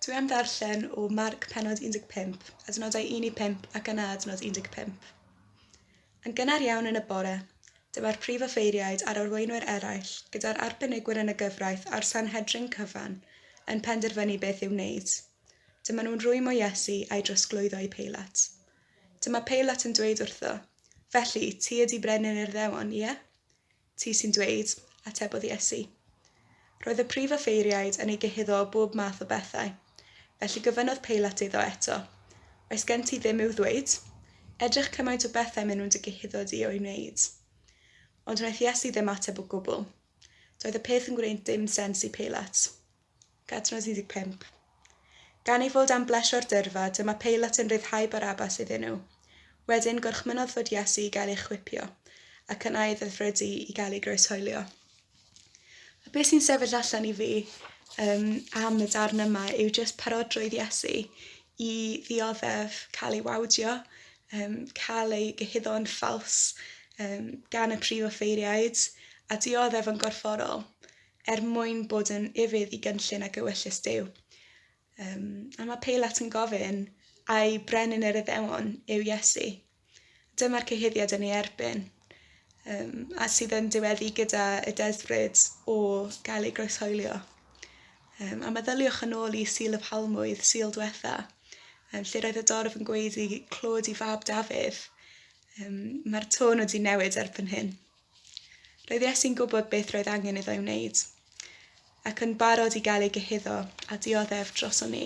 Dwi am ddarllen o Marc penod 15, adnodau 1 i 5 ac yna adnod 15. Yn gynnar iawn yn y bore, dyma'r prif offeiriaid a'r arweinwyr eraill, gyda'r arbenigwyr yn y gyfraith a'r Sanhedrin cyfan, yn penderfynu beth i'w wneud. Dyma nhw'n rwymo Iesu a'i drosglwyddo i Peilat. Dyma Peilat yn dweud wrtho, Felly, ti ydy Brenin Urddewon, ie? Ti sy'n dweud, atebodd Iesu. Roedd y prif offeiriaid yn ei gyhuddo o bob math o bethau. Felly gofynnodd Peilat iddo eto, Oes gen ti ddim i'w ddweud? Edrych cymaint o bethau maen nhw'n dy gyhuddo di o'u wneud. Ond wnaeth Iesu ddim ateb o gwbl. Doedd y peth yn gwneud dim sens i Peilat. Cadnos 15. Gan ei fod am blesio'r dyrfa, dyma Peilat yn rhyddhau Barabas iddyn nhw. Wedyn, gorchmynnodd fod Iesu i gael ei chwipio, ac yna ei ddedfrydu i gael ei groeshoelio. A beth sy'n sefyll allan i fi um, am y darn yma yw jyst parodrwydd Iesu i ddioddef cael ei wawdio, um, cael ei gyhuddo'n ffals um, gan y prif offeiriaid, a dioddef yn gorfforol. er mwyn bod yn ufudd i gynllun ac ewyllys Duw. Um, a mae Peilat yn gofyn, a'i brenin yr iddewon yw Iesu. Dyma'r cyhuddiad yn ei erbyn, um, a sydd yn diweddu gyda y desbryd o gael ei groeshoelio. Um, a meddyliwch yn ôl i Sil y Palmwydd, Sil Dwetha, um, lle roedd y dorf yn gweud i clod i fab Dafydd. Um, Mae'r tôn wedi newid erbyn hyn. Roedd Iesu'n gwybod beth roedd angen iddo ei wneud, ac yn barod i gael ei gyhuddo a dioddef droson ni.